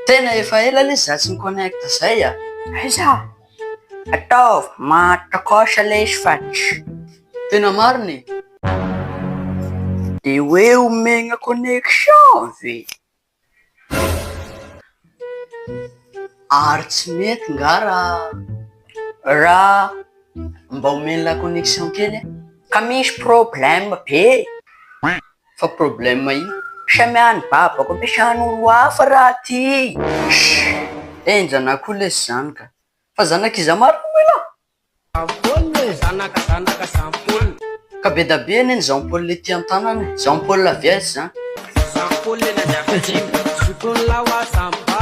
Tena efa ela lesy za tsy mi connecte zay a! Aiza? Ataovy mahatakaosa lesy fa tsy. Tena marina e! De hoe omegna connexion ve? Ary tsy mety nga raha raha mba omenla connexion kely e! Ka misy problème be e! Fa problème io samy any babako ampiasany olo hafa raha ty shh enjana koa lesy zany ka fa zanak iza marina moa ilah? Jean Paul e zanaka zanaka Jean Paul. Ka bedabe anie ny Jean Paul le ty antanana e, Jean Paul Vies zany. Jean Paul le nanjaka dimy zokiny lahy wa samy ba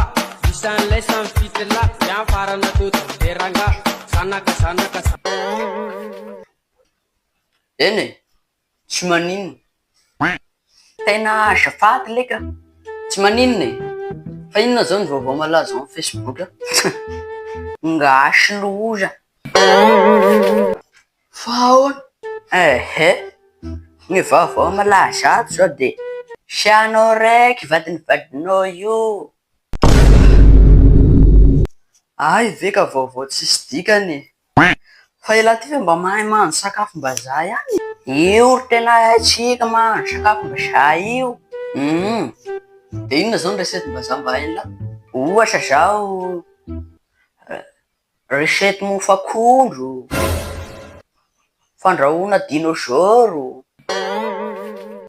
isan'ilay samy fito lahy dia ny farany natao dobe rangahy zanaka zanaka Jean. Eny e, tsy maninona. Tena azafady lek a! Tsy maninona e! Fa inona zao ny vaovao malaza ao am Facebook a? Ngash loza! Fa ahoana? Ehe! Ny vaovao malaza ato zao de hianao raiky vadin'ny vadinao io! Hay ve ka vaovao tsisy dikany e! Fa elah ty fa mba mahay mahandro sakafo mbazaha ihany e! Io ry tena haintsika mahandro sakafo mbazaha io humm. De inona zao ny recette mbazaha mba hainlah? Ohatra zao recette mofo akondro, fandrahoana dinôzôro.